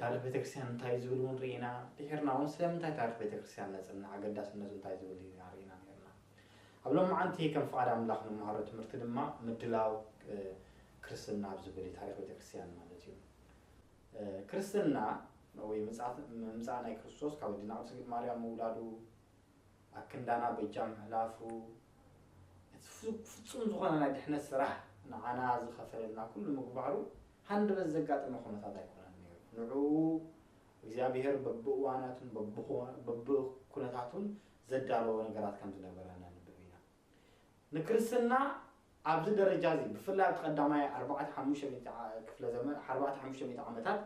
ታሪኽ ቤተክርስትያን እንታይ እዩ ዝብል እውን ርኢና ድሒርና እውን ስለምንታይ ታሪኽ ቤተክርስትያን ነጽንዕ ኣገዳስነቱ እንታይ ዝብል እዩ ኢና ርኢና ነርና ኣብ ሎምዓንቲ ከም ፍቓድ ኣምላኽ ንመሃሮ ትምህርቲ ድማ ምድላው ክርስትና ኣብ ዝብል እዩ ታሪኽ ቤተክርስትያን ማለት እዩ ክርስትና ወይ ምምጻእ ናይ ክርስቶስ ካብ ኣዲና ቅድስት ማርያም ምውላዱ ኣብ ክንዳና በጃ ምሕላፉ፣ እቲ ፍጹም ዝኾነ ናይ ድሕነት ስራሕ ንዓና ዝኸፈለልና ኩሉ ምግባሩ ሃንደበት ዘጋጠመ ኩነታት ኣይኮነን ነይሩ። ንዕኡ እግዚኣብሄር በብእዋናቱን በብኩነታቱን ዘዳለዎ ነገራት ከም ዝነበረ ነንብብ ኢና። ንክርስትና ኣብዚ ደረጃ እዚ ብፍላይ ኣብቲ ቀዳማይ ኣርባዕተ ሓሙሽተ ሚእቲ ክፍለ ዘመን ኣርባዕተ ሓሙሽተ ሚእቲ ዓመታት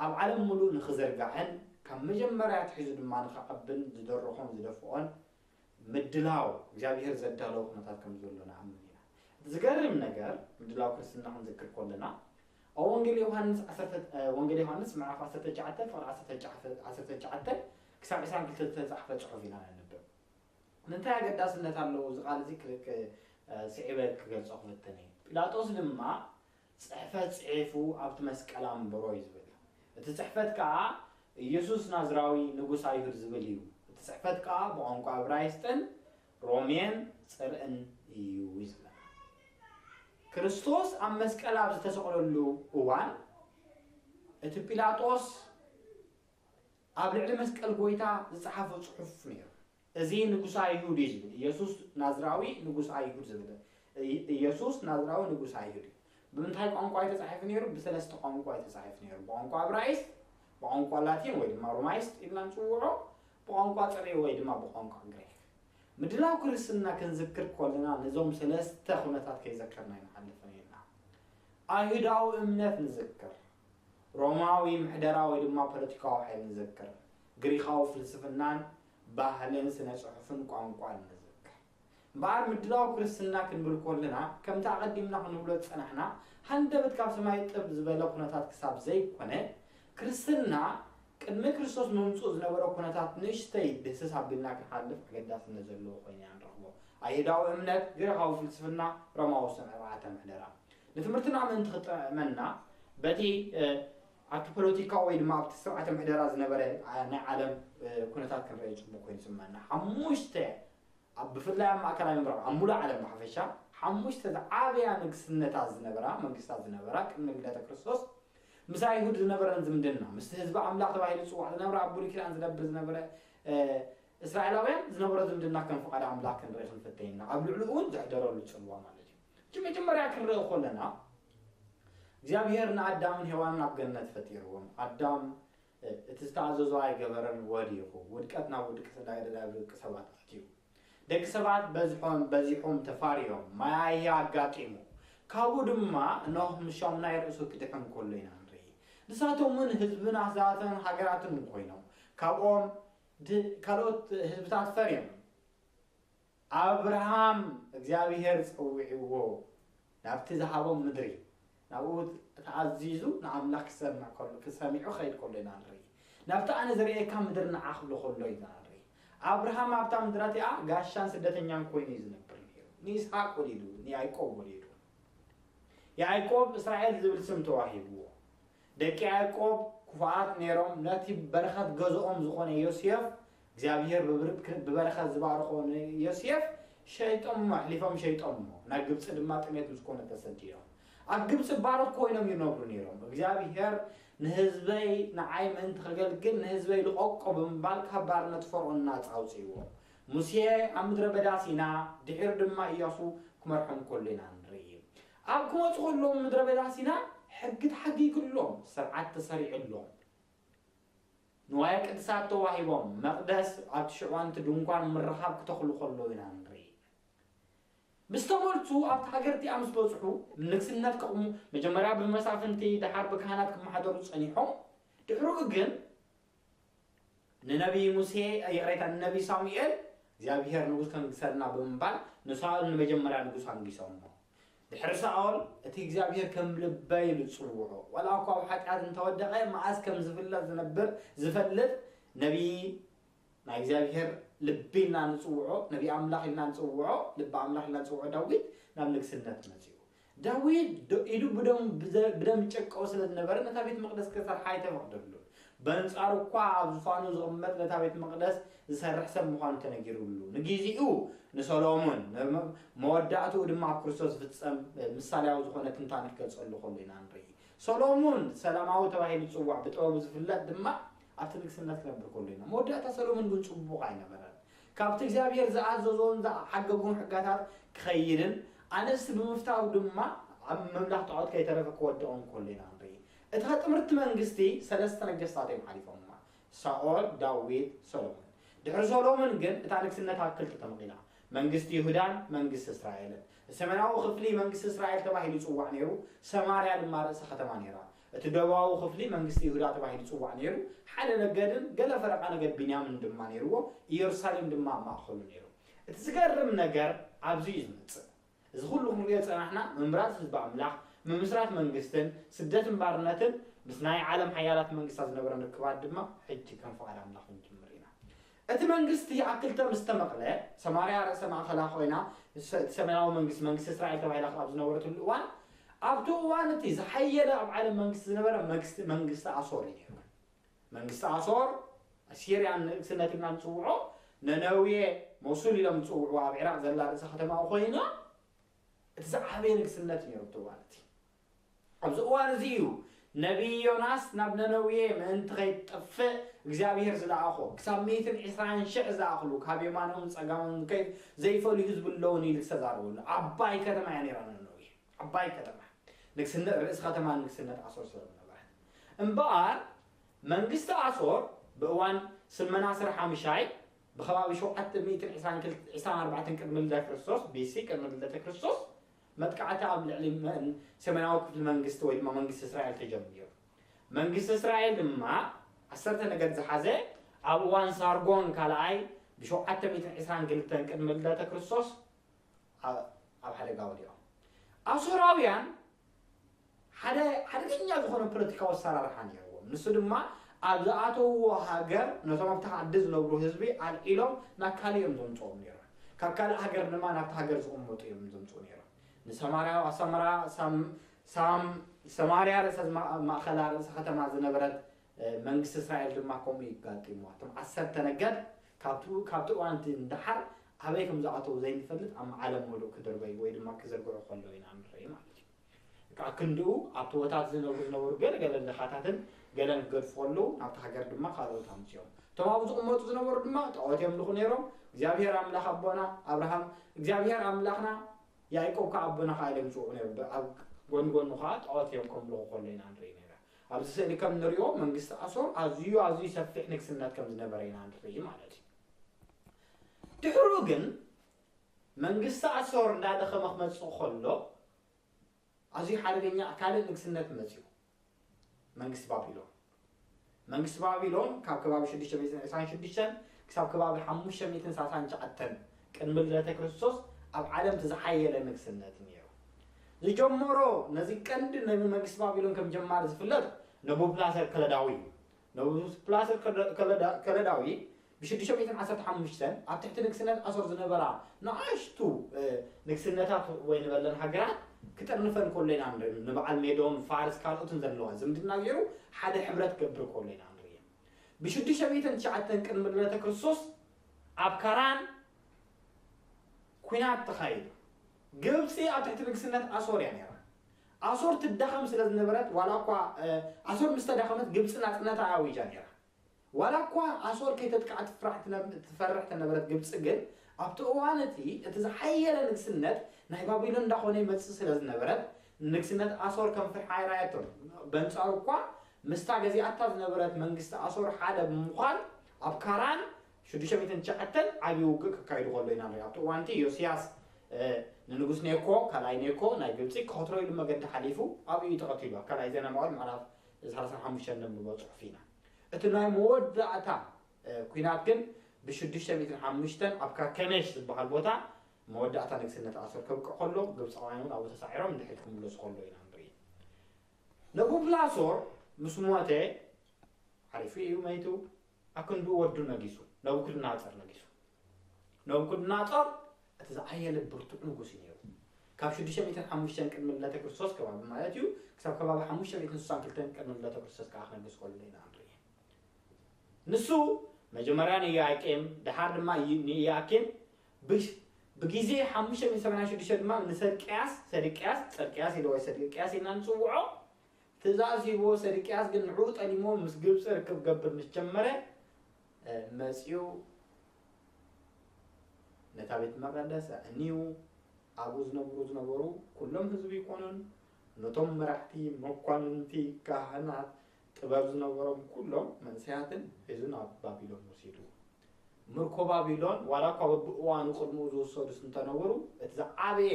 ኣብ ዓለም ምሉእ ንክዝርጋሕን ካብ መጀመርያ ኣትሒዙ ድማ ንክዓብን ዝደረኾን ዝደፍኦን ምድላው እግዚኣብሄር ዘዳለዎ ኩነታት ከም ዘሎ ንኣምን ኢና። እቲ ዝገርም ነገር ምድላው ክርስትና ክንዝክር ከለና ኣብ ወንጌል ዮሃንስ ዓሰርተ ወንጌል ዮሃንስ ምዕራፍ ዓሰርተ ትሽዓተ ፍቅሪ ዓሰርተ ትሽዓተ ዓሰርተ ትሽዓተ ክሳብ ዕስራን ክልተ ዝተጻሕፈ ጽሑፍ ኢና ነንብብ። ምንታይ ኣገዳስነት ኣለዎ? እዚ ቓል እዚ ክክ ስዒበ ክገልጾ ክፍትን እየ። ጲላጦስ ድማ ጽሕፈት ጽሒፉ ኣብቲ መስቀል ኣንበሮ እዩ ዝብል። እቲ ጽሕፈት ከኣ ኢየሱስ ናዝራዊ ንጉስ ኣይሁድ ዝብል እዩ። እቲ ጽሕፈት ከኣ ብቋንቋ እብራይስጥን ሮሜን ጽርኢን እዩ እዩ ዝብለና። ክርስቶስ ኣብ መስቀል ኣብ ዝተሰቕለሉ እዋን እቲ ጲላጦስ ኣብ ልዕሊ መስቀል ጎይታ ዝጸሓፎ ጽሑፍ ነይሩ። እዚ ንጉሰ ኣይሁድ እዩ ዝብል ኢየሱስ ናዝራዊ ንጉስ ኣይሁድ ዝብል ኢየሱስ ናዝራዊ ንጉስ ኣይሁድ እዩ። ብምንታይ ቋንቋ እዩ ተጻሒፉ ነይሩ? ብሰለስተ ቋንቋ እዩ ተጻሒፉ ነይሩ። ብቋንቋ እብራይስጥ፣ ብቋንቋ ላቲን ወይ ድማ ሮማይስጥ ኢልና ንጽውዖ፣ ብቋንቋ ጽርዒ ወይ ድማ ብቋንቋ ግሪክ። ምድላው ክርስትና ክንዝክር ኮለና ነዞም ሰለስተ ኩነታት ከይዘከርና ኣይንሓልፍን ኢና። ኣይሁዳዊ እምነት ንዝክር። ሮማዊ ምሕደራ ወይ ድማ ፖለቲካዊ ሓይሊ ንዘክር። ግሪኻዊ ፍልስፍናን ባህልን ስነ ጽሑፍን ቋንቋን ንዝክር። እምበኣር ምድላው ክርስትና ክንብል ኮለና ከምቲ ኣቐዲምና ክንብሎ ዝጸናሕና ሃንደበት ካብ ሰማይ ጥብ ዝበለ ኩነታት ክሳብ ዘይኮነ ክርስትና ቅድሚ ክርስቶስ ምምጽኡ ዝነበረ ኩነታት ንእሽተይ ድህስስ ኣቢልና ክንሓልፍ ኣገዳስነት ዘለዎ ኮይኑ ኢና ንረኽቦ። ኣይሁዳዊ እምነት፣ ግሪኻዊ ፍልስፍና፣ ሮማዊ ስነ-ስርዓተ ምሕደራ። ንትምህርትና ምእንቲ ክጥዕመና፣ በቲ ኣብቲ ፖለቲካዊ ወይ ድማ ኣብቲ ስርዓተ ምሕደራ ዝነበረ ናይ ዓለም ኩነታት ክንርእዮ ጽቡቕ ኮይኑ ይስምዓና። ሓሙሽተ ኣብ ብፍላይ ኣብ ማእከላይ ምብራቕ ኣብ ምሉእ ዓለም ብሓፈሻ ሓሙሽተ ዝዓበያ ንግስነታት ዝነበራ መንግስታት ዝነበራ ቅድሚ ልደተ ክርስቶስ ምስ ኣይሁድ ዝነበረን ዝምድና ምስቲ ህዝቢ ኣምላኽ ተባሂሉ ዝጽዋዕ ዝነበረ ኣብ ብሉይ ኪዳን ዝነብር ዝነበረ እስራኤላውያን ዝነበሮ ዝምድና ከም ፍቓድ ኣምላኽ ክንርኢ ክንፍተይ ኢና ኣብ ልዕሉ እውን ዘሕደረሉ ጽልዋ ማለት እዩ እቲ መጀመርያ ክንርኢ ኮለና እግዚኣብሄር ንኣዳምን ሄዋንን ኣብ ገነት ፈጢርዎም ኣዳም እቲ ዝተኣዘዞ ኣይገበረን ወዲቁ ውድቀት ናብ ውድቅት እንዳገደዳ ደቂ ሰባት ኣትዩ ደቂ ሰባት በዝሖም በዚሑም ተፋርዮም ማያያ ኣጋጢሙ ካብኡ ድማ ኖህ ምሻሙ ናይ ርእሱ ክድሕን ኮሎ ኢና ንርኢ ንሳቶም ውን ህዝብን ኣህዛትን ሃገራትን ኮይኖም ካብኦም ካልኦት ህዝብታት ፈርዮም ኣብርሃም እግዚኣብሄር ጸዊዕዎ ናብቲ ዝሃቦም ምድሪ ናብኡ ተኣዚዙ ንኣምላኽ ክሰምዕ ከሎ ክሰሚዑ ክኸይድ ከሎ ኢና ንርኢ ናብቲ ኣነ ዘርእየካ ምድሪ ንዓ ክብሎ ከሎ ኢና ንርኢ ኣብርሃም ኣብታ ምድራ እቲኣ ጋሻን ስደተኛን ኮይኑ እዩ ዝነብር ነይሩ። ንይስሓቅ ወሊዱ፣ ንያዕቆብ ወሊዱ። ያዕቆብ እስራኤል ዝብል ስም ተዋሂብዎ። ደቂ ያእቆብ ክፉኣት ነይሮም፣ ነቲ በረኸት ገዝኦም ዝኾነ ዮስየፍ፣ እግዚኣብሄር ብብርክ ብበረኸት ዝባረኾ ንዮስየፍ ሸይጦሞ፣ ኣሕሊፎም ሸይጦሞ፣ ናብ ግብጺ ድማ ጥሜት ምስ ኮነ ተሰዲዶም። ኣብ ግብጺ ባሮት ኮይኖም ይነብሩ ነይሮም። እግዚኣብሄር ንህዝበይ ንዓይ ምእንቲ ከገልግል ንህዝበይ ልቐቆ ብምባል ካብ ባርነት ፈርኦን ናጻ ኣውጺእዎ። ሙሴ ኣብ ምድረ በዳ ሲና ድሒሩ ድማ እያሱ ክመርሖም ከሎ ኢና ንርኢ። ኣብ ክወጹ ከለዉ ምድረ በዳ ሲና ሕጊ ተሓጊግሎም ስርዓት ተሰሪዑሎም ንዋየ ቅድሳት ተዋሂቦም መቅደስ ኣብቲ ሽዑ ኣንቲ ድንኳን ምርኻብ ክተኽሉ ከለዉ ኢና ንርኢ ምስ ተመልሱ ኣብቲ ሃገር እቲኣ ምስ በጽሑ ንግስነት ከቕሙ መጀመርያ ብመሳፍንቲ ደሓር ብካህናት ክመሓደሩ ጸኒሖም ድሕርኡ ግን ንነብዪ ሙሴ፣ ይቕሬታ፣ ንነብዪ ሳሙኤል፣ እግዚኣብሄር ንጉስ ከንግሠልና ብምባል ንሳኦል ንመጀመርያ ንጉስ ኣንጊሶሞ። ድሕሪ ሳኦል፣ እቲ እግዚኣብሄር ከም ልበይ ኢሉ ዝጽውዖ፣ ዋላ እኳ ኣብ ሓጢኣት እንተ ወደቐ፣ መኣስ ከም ዚፍለጥ ዚነብር ዚፈልጥ ነብዪ ናይ እግዚኣብሄር ልቢ ኢልና ንጽውዖ፣ ነብዪ ኣምላኽ ኢልና ንጽውዖ፣ ልቢ ኣምላኽ ኢልና ንጽውዖ ዳዊት ናብ ንግሥነት መጺኡ። ዳዊት ዶ ኢዱ ብደሙ ብደም ይጨቀው ስለ ዝነበረ ነታ ቤት መቕደስ ኪሰርሓ ኣይተፈቕደሉን። በንጻሩ እኳ ኣብ ዙፋኑ ዚቕመጥ ነታ ቤት መቕደስ ዚሰርሕ ሰብ ምዃኑ ተነጊሩሉ። ንጊዜኡ ንሰሎሞን፣ መወዳእትኡ ድማ ኣብ ክርስቶስ ዚፍጸም ምሳልያዊ ዝኾነ ትንታነ ኪገልጸሉ ከሎ ኢና ንርኢ። ሰሎሞን ሰላማዊ ተባሂሉ ይጽዋዕ፣ ብጥበቡ ዚፍለጥ ድማ ኣብቲ ንግስነት ኪነብር ከሎ ኢና። መወዳእታ ሰሎሞን ግን ጽቡቕ ኣይነበረን። ካብቲ እግዚኣብሄር ዝኣዘዞን ዝሓገጎን ሕጋታት ክኸይንን ኣንስቲ ብምፍታው ድማ ኣብ ምምላኽ ጣዖት ከይተረፈ ክወድቕን ከሎ ኢና ንርኢ። እታ ጥምርቲ መንግስቲ ሰለስተ ነገስታት እዮም ሓሊፎማ፣ ሳኦል፣ ዳዊት፣ ሰሎሞን። ድሕሪ ሰሎምን ግን እታ ንግስነት ኣብ ክልተ ተመቒላ፣ መንግስቲ ይሁዳን መንግስቲ እስራኤልን። ሰሜናዊ ክፍሊ መንግስቲ እስራኤል ተባሂሉ ይጽዋዕ ነይሩ፣ ሰማርያ ድማ ርእሰ ከተማ ነይራ። እቲ ደቡባዊ ኽፍሊ መንግስቲ ይሁዳ ተባሂሉ ይጽዋዕ ነይሩ፣ ሓደ ነገድን ገለ ፈረቓ ነገድ ብንያምን ድማ ነይርዎ፣ ኢየሩሳሌም ድማ ኣብ ማእከሉ ነይሩ። እቲ ዝገርም ነገር ኣብዚ እዩ ዝመጽእ። እዚ ኹሉ ክንርእዮ ዝጸናሕና ምምራጽ ህዝቢ ኣምላኽ፣ ምምስራት መንግስትን ስደትን ባርነትን ምስ ናይ ዓለም ሓያላት መንግስታት ዝነበረን ርክባት ድማ ሕጂ ከም ፍቓድ ኣምላኽ ክንጅምር ኢና። እቲ መንግስቲ ኣብ ክልተ ምስ ተመቕለ፣ ሰማርያ ርእሰ ማእከላ ዀይና እቲ ሰሜናዊ መንግስቲ፣ መንግስቲ እስራኤል ተባሂላ ኣብ ዝነበረትሉ እዋን፣ ኣብቲ እዋን እቲ ዝሓየለ ኣብ ዓለም መንግስቲ ዝነበረ መግስቲ መንግስቲ ኣሶር እዩ ነይሩ። መንግስቲ ኣሶር፣ ኣሲርያ ንእግስነት ኢልና ንጽውዖ፣ ነነዌ፣ ሞሱል ኢሎም ዝጽውዕዋ ኣብ ዒራቕ ዘላ ርእሰ ከተማኡ ኰይና፣ እቲ ዝዓበየ ንግስነት እዩ ነይሩ ኣብቲ እዋን እቲ። ኣብዚ እዋን እዚ እዩ ነብዪ ዮናስ ናብ ነነዌ ምእንቲ ኸይትጠፍእ እግዚኣብሄር ዝለኣኾ። ክሳብ ሚእትን ዕስራን ሽሕ ዝኣኽሉ ካብ የማኖምን ጸጋሞምን ዝከይድ ዘይፈልዩ ህዝቢ ኣለዉኒ ኢሉ ዝተዛረበሉ ዓባይ ከተማ እያ ነይራ ነነዌ። ዓባይ ከተማ ንግስነት ርእሲ ኸተማ ንግስነት ኣሶር ስለ ዝነበረት። እምበኣር መንግስቲ ኣሶር ብእዋን ስልመናስር ሓምሻይ ብኸባቢ ሸውዓተ ሚእትን ዕስራን ክልተ ዕስራን ኣርባዕተን ቅድሚ ልደተ ክርስቶስ፣ BC፣ ቅድሚ ልደተ ክርስቶስ መጥቃዕቲ ኣብ ልዕሊ ሰሜናዊ ክፍሊ መንግስቲ ወይ ድማ መንግስቲ እስራኤል ተጀሚሩ። መንግስቲ እስራኤል ድማ ዓሰርተ ነገድ ዝሓዘ ኣብ እዋን ሳርጎን ካልኣይ ብ ሸውዓተ ሚእትን ዕስራን ክልተን ቅድሚ ልደተ ክርስቶስ ኣብ ሓደጋ ወዲቖም። ኣሶራውያን ሓደ ሓደገኛ ዝኾነ ፖለቲካዊ ኣሰራርሓ ነይርዎም። ንሱ ድማ ኣብ ዝኣተውዎ ሃገር ነቶም ኣብቲ ዓዲ ዝነብሩ ህዝቢ ኣልዒሎም ናብ ካልእ እዮም ዘምጽኦም ነይሮም። ካብ ካልእ ሃገር ድማ ናብታ ሃገር ዝቕመጡ እዮም ዘምጽኡ ነይሮም። ንሰማርያ ኣሰመራ ሳም ሳም ሰማርያ ርእሰ ማእኸላ ርእሰ ከተማ ዝነበረት መንግስቲ እስራኤል ድማ ከምኡ እዩ ኣጋጢምዋ። እቶም ዓሰርተ ነገድ ካብቲ ካብቲ እዋን እቲ ንደሓር ኣበይ ከም ዝኣተው ዘይንፈልጥ ኣብ ዓለም ምሉእ ክድርበዩ ወይ ድማ ክዝርግሑ ከለዉ ኢና ንርኢ ማለት እዩ። ክኣ ክንድኡ ኣብ ቶቦታት ዝነብሩ ዝነበሩ ገለ ገለ ድኻታትን ገለን ክገድፉ ከለዉ ናብታ ሃገር ድማ ካልኦት ኣምጺኦም እቶም ኣብኡ ዝቕመጡ ዝነበሩ ድማ ጣዖት የምልኹ ኔሮም እግዚኣብሄር ኣምላኽ ኣቦና ኣብርሃም እግዚኣብሄር ኣምላኽና ያእቆብ ከኣ ኣቦና ከኣ ኢሎም ይጽውዑ ኔሮም ኣብ ጎኒ ጎኑ ከኣ ጣዖት እዮም ከምልኹ ከሎ ኢና ንርኢ ኔራ ኣብዚ ስእሊ ከም ንሪኦ መንግስቲ ኣሶር ኣዝዩ ኣዝዩ ሰፊሕ ንግስነት ከም ዝነበረ ኢና ንርኢ ማለት እዩ ድሕሩ ግን መንግስቲ ኣሶር እንዳደኸመ ክመጽእ ከሎ ኣዝዩ ሓደገኛ ካልእ ንግስነት መጺኡ መንግስቲ ባቢሎን። መንግስቲ ባቢሎን ካብ ከባቢ ሽዱሽተ ሚእትን ዒስራን ሽዱሽተን ክሳብ ከባቢ ሓሙሽተ ሚእትን ሳሳን ትሽዓተን ቅድሚ ልደተ ክርስቶስ ኣብ ዓለም እቲ ዝሓየለ ንግስነት እዩ ነይሩ። ዝጀመሮ ነዚ ቀንዲ ነቢ መንግስቲ ባቢሎን ከም ጀማሪ ዝፍለጥ ነቡብላሰር ከለዳዊ እዩ። ንጉስ ፕላስር ከለዳዊ ብ ሽዱሽተ ሚእትን ዓሰርተ ሓሙሽተን ኣብ ትሕቲ ንግስነት ኣሶር ዝነበራ ንኣሽቱ ንግስነታት ወይ ንበለን ሃገራት ክጥርንፈን ከሎ ኢና ንርኢ። ንበዓል ሜዶን ፋርስ ካልኦትን ዘለዋ ዝምድና ገይሩ ሓደ ሕብረት ክገብር ከሎ ኢና ንርኢ። ብ ሽዱሽተ ሚእትን ትሽዓተን ቅድሚ ልደተ ክርስቶስ ኣብ ካራን ኲናት ተኻይዱ። ግብጺ ኣብ ትሕቲ ንግስነት ኣሶር እያ ነይራ። ኣሶር ትዳኸም ስለ ዝነበረት፣ ዋላ እኳ ኣሶር ምስ ተዳኸመት ግብጺ ናጽነታ ኣዊጃ ነይራ። ዋላ እኳ ኣሶር ከይተጥቅዓ ትፈርሕ ተነበረት ግብጺ ግን ኣብቲ እዋን እቲ እቲ ዝሓየለ ንግስነት ናይ ባቢሎን እንዳኾነ ይመጽእ ስለ ዝነበረት ንንግስነት ኣሶር ከም ፍርሒ ኣይረኣየቶን። በንጻሩ እኳ ምስታ ገዚኣታ ዝነበረት መንግስቲ ኣሶር ሓደ ብምዃን ኣብ ካራን ሽዱሽተ ሚእትን ትሽዓተን ዓብዪ ውግእ ከካይዱ ከሎ ኢና ንሪኦም። ኣብቲ እዋን'ቲ ዮስያስ ንንጉስ ኔኮ፣ ካልኣይ ኔኮ፣ ናይ ግብጺ፣ ክኸትሮ ኢሉ መገዲ ሓሊፉ ኣብኡ እዩ ተቐቲሉ፣ ኣብ ካልኣይ ዜና መዋዕል ምዕራፍ ሰላሳን ሓሙሽተን ነንብቦ ጽሑፍ ኢና። እቲ ናይ መወዳእታ ኲናት ግን ብሽዱሽተ ሚእትን ሓሙሽተን ኣብ ካርከሜሽ ዝበሃል ቦታ መወዳእታ ንግስነት ኣሶር ከብቅዕ ከሎ፣ ግብጻውያን እውን ኣብኡ ተሳዒሮም ንድሕሪት ክምለሱ ከለዉ ኢና ንርኢ። ነቡብላሶር ምስ ሞተ፣ ዓሪፉ እዩ መይቱ፣ ኣብ ክንድኡ ወዱ ነጊሱ፣ ነቡኩድናጾር ነጊሱ። ነቡኩድናጾር እቲ ዝኣየለ ብርቱዕ ንጉስ እዩ ነይሩ። ካብ ሽዱሽተ ሚእትን ሓሙሽተን ቅድሚ ልደተ ክርስቶስ ከባቢ ማለት እዩ ክሳብ ከባቢ ሓሙሽተ ሚእትን ስሳን ክልተን ቅድሚ ልደተ ክርስቶስ ከኣ ክነግስ ከሎ ኢና ንርኢ። ንሱ መጀመርያ ንዮያቄም ደሓር ድማ ንኢያኪም ብሽ ብግዜ ሓሙሽተ ሚእትን ሰማንያን ሽዱሽተ ድማ ንሰድቅያስ ሰድቅያስ ጽድቅያስ ኢለ ወይ ሰድቅያስ ኢልና ንጽውዖ ትእዛዝ ሂብዎ ሰድቅያስ ግን ንዕኡ ጠሊምዎ ምስ ግብጺ ርክብ ክገብር ምስ ጀመረ መጺኡ ነታ ቤት መቐደስ ኣዕንዩ ኣብኡ ዝነብሩ ዝነበሩ ኩሎም ህዝቢ ይኮኑን ነቶም መራሕቲ መኳንንቲ ካህናት ጥበብ ዝነበሮም ኩሎም መንሰያትን ሒዙ ናብ ባቢሎን ወሲዱ ምርኮ ባቢሎን፣ ዋላ እኳ በብእዋኑ ቅድመኡ ዝውሰዱስ እንተ ነበሩ፣ እቲ ዝዓበየ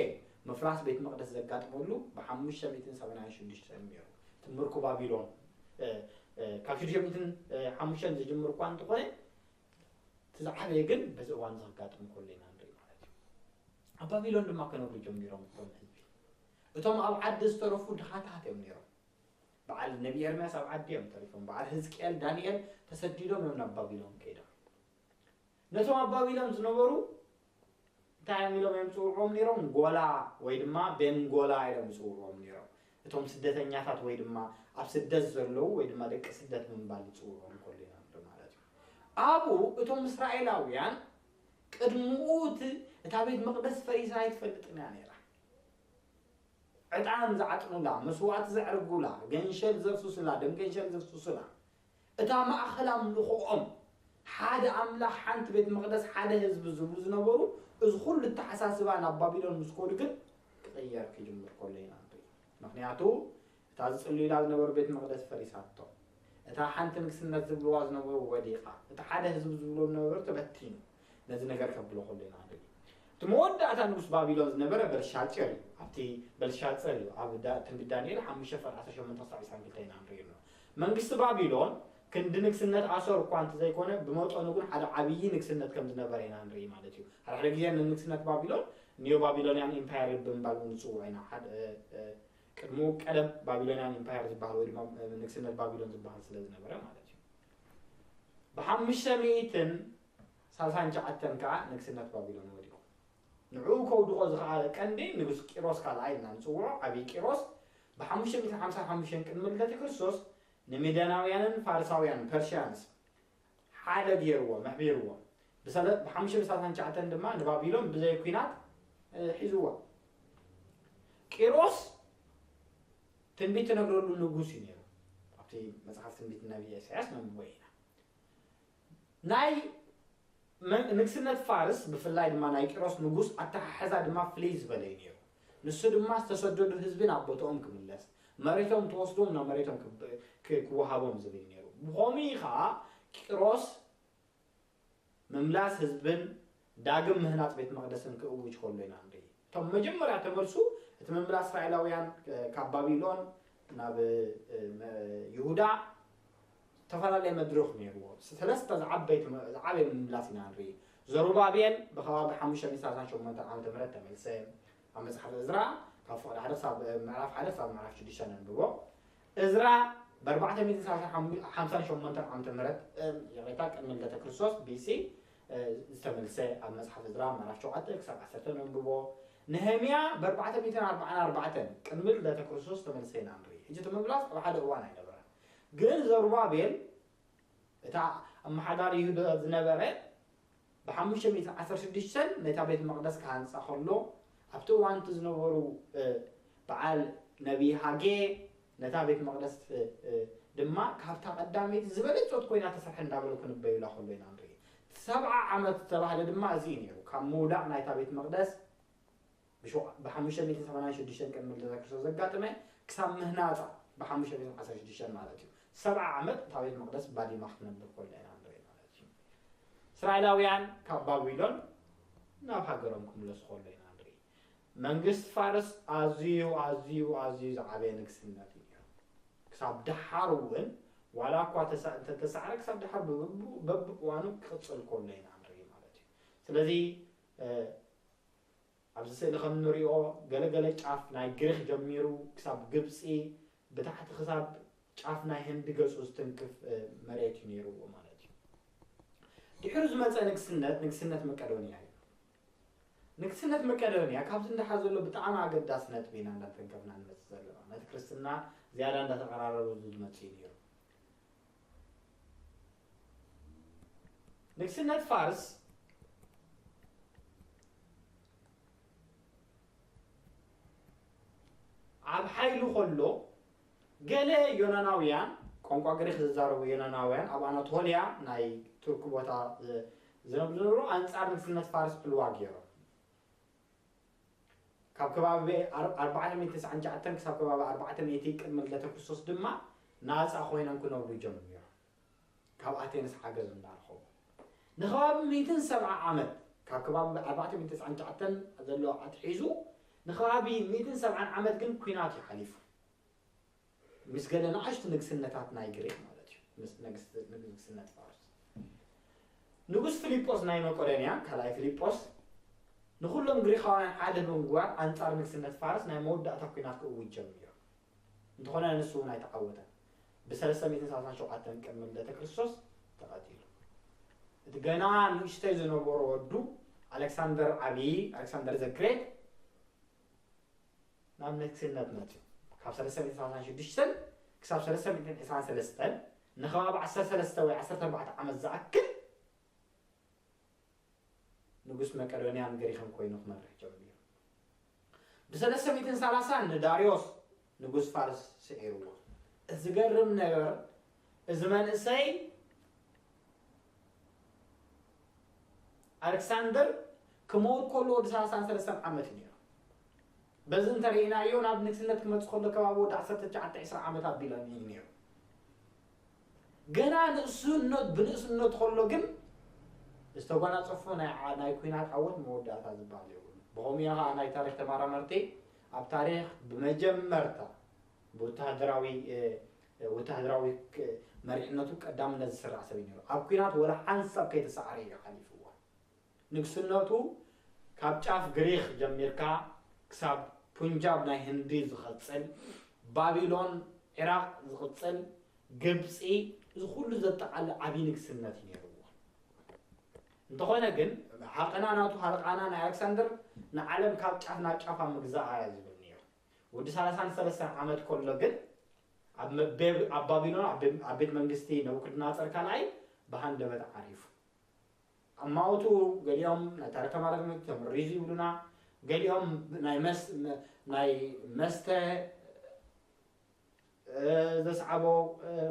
ምፍራስ ቤት መቕደስ ዘጋጥመሉ ብሓሙሽተ ሚእትን ሰማንያን ሽዱሽተን እዩ ነይሩ። እቲ ምርኮ ባቢሎን ካብ ሽዱሽተ ሚእትን ሓሙሽተን ዝጅምር እኳ እንተ ዀነ፣ እቲ ዝዓበየ ግን በዚ እዋን እዚ ከጋጥም ከሎ ኢና ንርኢ ማለት እዩ። ኣብ ባቢሎን ድማ ክነብሩ ጀሚሮም እቶም ህዝቢ። እቶም ኣብ ዓዲ ዝተረፉ ድኻታት እዮም ነይሮም። በዓል ነቢ ኤርምያስ ኣብ ዓዲ እዮም ተሪፎም። በዓል ህዝቅኤል፣ ዳንኤል ተሰዲዶም እዮም ናብ ባቢሎን ከይዶም። ነቶም ኣብ ባቢሎን ዝነበሩ እንታይ እዮም ኢሎም እዮም ዝፅውዕዎም ነይሮም? ጎላ ወይ ድማ ቤን ጎላ ኢሎም ይፅውዕዎም ነይሮም። እቶም ስደተኛታት ወይ ድማ ኣብ ስደት ዘለዉ ወይ ድማ ደቂ ስደት ብምባል ይፅውዕዎም ከሉ ኢና ንርኢ ማለት እዩ። ኣብኡ እቶም እስራኤላውያን ቅድምኡ እቲ እታ ቤት መቕደስ ፈሪሳ ኣይትፈልጥን እያ ነይራ። ዕጣን ዝዓጥኑላ፣ መስዋእቲ ዘዕርጉላ፣ ገንሸል ዘፍስሱላ፣ ደም ገንሸል ዘፍስሱላ፣ እታ ማእከል ኣምልኾኦም፣ ሓደ ኣምላኽ፣ ሓንቲ ቤት መቕደስ፣ ሓደ ህዝቢ ዝብሉ ዝነበሩ፣ እዚ ኹሉ ኣተሓሳስባ ናብ ባቢሎን ምስ ከዱ ግን ክቕየር ክጅምር ከሎ ኢና ንርኢ። ምኽንያቱ እታ ዝጽልዩላ ዝነበሩ ቤት መቕደስ ፈሪሳቶ። እታ ሓንቲ ንግስነት ዝብልዋ ዝነበሩ ወዲቓ። እቲ ሓደ ህዝቢ ዝብሎ ዝነበሩ ተበቲኑ። ነዚ ነገር ከብሎ ከሎ ኢና ክንርኢ። እቲ መወዳእታ ንጉስ ባቢሎን ዝነበረ በልሻጼር እዩ። ኣብቲ በልሻጸር እዩ ኣብ ትንቢት ዳንኤል ሓሙሽተ ፍቕድ ዓሰርተ ሸሞንተ ክሳብ ዕስራን ክልተን ኢና ንርኢ ኣለና። መንግስቲ ባቢሎን ክንዲ ንግስነት ኣሶር እኳ እንተዘይኮነ ብመጠኑ ግን ሓደ ዓብዪ ንግስነት ከም ዝነበረ ኢና ንርኢ ማለት እዩ። ሓደ ሓደ ግዜ ንንግስነት ባቢሎን ኒዮ ባቢሎንያን ኢምፓየር ብምባል እውን ንጽውዖ ኢና። ቅድሙ ቀደም ባቢሎንያን ኢምፓየር ዝበሃል ወይ ድማ ንግስነት ባቢሎን ዝበሃል ስለ ዝነበረ ማለት እዩ ብሓሙሽተ ሚእትን ሳልሳን ሸዓተን ከዓ ንግስነት ባቢሎን ወዲቁ ንዕኡ ከውድቆ ዝኸኣለ ቀንዲ ንጉስ ቂሮስ ካልኣይ እና ንፅውዖ ዓብዪ ቂሮስ ብሓሙሽተ ሚእትን ሓምሳን ሓሙሽተን ቅድሚ ልደተ ክርስቶስ ንሚደናውያንን ፋርሳውያን ፐርሽያንስ ሓደ ገይርዎም ኣሕቢርዎም ብሰለ ብሓሙሽተ ብሳልሳን ትሽዓተን ድማ ንባቢሎን ብዘይ ኩናት ሒዝዋ ቂሮስ ትንቢት ትነግረሉ ንጉስ እዩ ነይሩ ኣብቲ መፅሓፍ ትንቢት ነቢ ኢሳያስ ነንብቦ ኢና ናይ ንግስነት ፋርስ ብፍላይ ድማ ናይ ቂሮስ ንጉስ ኣተሓሕዛ ድማ ፍልይ ዝበለ እዩ ነይሩ ንሱ ድማ ዝተሰደዱ ህዝቢ ናብ ቦትኦም ክምለስ፣ መሬቶም ተወስዶም ናብ መሬቶም ክወሃቦም ዝብል ነይሩ። ብኸምኡ እዩ ከኣ ቂሮስ ምምላስ ህዝብን ዳግም ምህናጽ ቤት መቕደስን ክእውጅ ከሎ ኢና ንርኢ። እቶም መጀመርያ ተመልሱ እቲ ምምላስ እስራኤላውያን ካብ ባቢሎን ናብ ይሁዳ ዝተፈላለየ መድርኽ ነይርዎ። ሰለስተ ዝዓበይቲ ዝዓበየ ምምላስ ኢና ንርኢ። ዘሩባቤል ብኸባቢ ሓሙሽተ ሚእቲ ሰላሳን ሸሞንተን ዓመተ ምህረት ተመልሰ። ኣብ መጽሓፍ እዝራ ካብ ፍቕዲ ሓደ ክሳብ ምዕራፍ ሓደ ክሳብ ምዕራፍ ሽዱሽተ ነንብቦ። እዝራ ብኣርባዕተ ሚእትን ሰላሳን ሓሙ ሓምሳን ሸሞንተን ዓመተ ምህረት ይቕሬታ ቅድሚ ልደተ ክርስቶስ ቢሲ ዝተመልሰ ኣብ መጽሓፍ እዝራ ምዕራፍ ሸውዓተ ክሳብ ዓሰርተ ነንብቦ። ነህምያ ብኣርባዕተ ሚእትን ኣርብዓን ኣርባዕተን ቅድሚ ልደተ ክርስቶስ ዝተመልሰ ኢና ንርኢ። ሕጂ እቲ ምምላስ ኣብ ሓደ እዋን ኣይነበረን። ግን ዘሩባቤል እታ ኣመሓዳሪ ይሁዳ ዝነበረ ብሓሙሽተ ሚእትን ዓሰርተ ሽዱሽተን ነታ ቤት መቕደስ ክሃንጻ ከሎ ኣብቲ እዋን እቲ ዝነበሩ በዓል ነቢይ ሃጌ ነታ ቤት መቕደስ ድማ ካብታ ቀዳመይቲ ዝበለጸት ኮይና ተሰርሐ እንዳበሉ ክንበዩላ ከሎ ኢና ንርኢ ሰብዓ ዓመት ዝተባህለ ድማ እዚ እዩ ነይሩ ካብ ምውዳቕ ናይታ ቤት መቕደስ ብሓሙሽተ ሚእትን ሰማንያን ሽዱሽተን ቅድሚ ልደተ ክርስቶስ ዘጋጥመ ክሳብ ምህናጻ ብሓሙሽተ ሚእትን ዓሰርተ ሽዱሽተን ማለት እዩ ሰብዓ ዓመት እታ ቤት መቕደስ ባዲማ ክትነብር ኮላ ኢና ንርኢ ማለት እዩ እስራኤላውያን ካብ ባቢሎን ናብ ሃገሮም ክምለሱ ኮሎ ኢና ንርኢ መንግስቲ ፋርስ ኣዝዩ ኣዝዩ ኣዝዩ ዝዓበየ ንግስነት እዩ ነይሩ ክሳብ ደሓር እውን ዋላ እኳ እንተተሳዕረ ክሳብ ደሓር በብእዋኑ ክቕፅል ኮሎ ኢና ንርኢ ማለት እዩ ስለዚ ኣብዚ ስእሊ ከም እንሪኦ ገለ ገለ ጫፍ ናይ ግሪኽ ጀሚሩ ክሳብ ግብጺ ብታሕቲ ክሳብ ጫፍ ናይ ህንዲ ገጹ ዝትንክፍ መሬት እዩ ነይርዎ ማለት እዩ። ድሕሩ ዝመጸ ንግስነት ንግስነት መቀዶንያ እዩ። ንግስነት መቀዶንያ ካብዚ እንዳሓ ዘሎ ብጣዕሚ ኣገዳሲ ነጥቢ ኢና እንዳተንከፍና ንመጽእ ዘለና ነቲ ክርስትና ዝያዳ እንዳተቀራረቡ ዝመጽእ እዩ ነይሩ። ንግስነት ፋርስ ኣብ ሓይሉ ከሎ ገለ ዮናናውያን ቋንቋ ግሪክ ዝዛረቡ ዮናናውያን ኣብ ኣናቶልያ ናይ ቱርክ ቦታ ዝነብሩ ዝነበሩ ኣንጻር ንግስነት ፋርስ ዕልዋ ገይሮም ካብ ከባቢ ኣርባዓ ሚእቲ ትስዓን ትሽዓተን ክሳብ ከባቢ ኣርባዕተ ሚእቲ ቅድሚ ልደተ ክርስቶስ ድማ ናጻ ኮይነን ክነብሩ ጀሚሮም። ካብ ኣቴንስ ሓገዝ እንዳረኸቡ ንከባቢ ሚእትን ሰብዓ ዓመት ካብ ከባቢ ኣርባዕተ ሚእቲ ትስዓን ትሽዓተን ዘሎ ኣትሒዙ ንከባቢ ሚእትን ሰብዓን ዓመት ግን ኩናት እዩ ሓሊፉ። ምስ ገለ ንኣሽቱ ንግስነታት ናይ ግሪኽ ማለት እዩ፣ ምስ ንግስነት ፋርስ። ንጉስ ፊሊጶስ ናይ መቄዶንያ፣ ካልኣይ ፊሊጶስ፣ ንዅሎም ግሪኻውያን ሓደ ብምግባር ኣንጻር ንግስነት ፋርስ ናይ መወዳእታ ኲናት ክእውጅ ጀሚሩ። እንተዀነ ንሱ እውን ኣይተዓወተን፣ ብሰለስተ ሚእትን ሰላሳን ሸውዓተን ቅድሚ ልደተ ክርስቶስ ተቐቲሉ። እቲ ገና ንእሽተይ ዝነበሮ ወዱ ኣሌክሳንደር ዓብዪ፣ Alexander the Great፣ ናብ ንግስነት መጽኡ። ካብ ሰለስተ ሚእትን ሰላሳን ሽዱሽተን ክሳብ ሰለስተ ሚእትን ዕስራን ሰለስተን ንኸባቢ ዓሰርተ ሰለስተ ወይ ዓሰርተ ኣርባዕተ ዓመት ዝኣክል ንጉስ መቄዶንያን ግሪኽን ኮይኑ ክመርሕ ጀሚሩ። ብሰለስተ ሚእትን ሰላሳን ንዳርዮስ ንጉስ ፋርስ ስዒርዎ። ዝገርም ነገር እዚ መንእሰይ ኣሌክሳንደር ክመውት ከሎ ወዲ ሰላሳን ሰለስተን ዓመት እዩ ነይሩ። በዚ እንተርኢናዮ ናብ ንግስነት ክመጽእ ከሎ ከባቢ ወዲ ዓሰርተ ትሽዓተ ዕስራ ዓመት ኣቢሉ እዩ ነይሩ። ገና ንእስነት ብንእስነቱ ከሎ ግን ዝተጓናጸፎ ናይ ኩናት ዓወት መወዳእታ ዝበሃል የብሉ። ብኸምኡ እያ ከዓ ናይ ታሪክ ተመራመርቲ ኣብ ታሪክ ብመጀመርታ ብወተሃደራዊ ወተሃደራዊ መሪሕነቱ ቀዳምነት ዝስራዕ ሰብ እዩ ነይሩ። ኣብ ኲናት ወላ ሓንሳብ ከይተሳዕረ እዩ ሓሊፍዋ። ንግስነቱ ካብ ጫፍ ግሪኽ ጀሚርካ ክሳብ ፑንጃብ ናይ ህንዲ ዝቐጽል፣ ባቢሎን፣ ዒራቕ ዝቕጽል፣ ግብጺ፣ እዚ ኩሉ ዘጠቓልል ዓቢ ንግስነት እዩ ነይርዎ። እንተኾነ ግን ሃቐና ናቱ ሃልቓና ናይ ኣለክሳንደር ንዓለም ካብ ጫፍ ናብ ጫፋ ምግዛኣ እያ ዝብል ነይሩ። ወዲ ሳላሳን ሰለስተን ዓመት ከሎ ግን ኣብ ኣብ ባቢሎን ኣብ ቤት መንግስቲ ነቡክድናጸር ካልኣይ ብሃንደበት ዓሪፉ። ኣማውቱ ገሊኦም ናይ ታሪክ ተማረርቲ ተመሪዙ ይብሉና፣ ገሊኦም ናይ መስተ ዘስዓቦ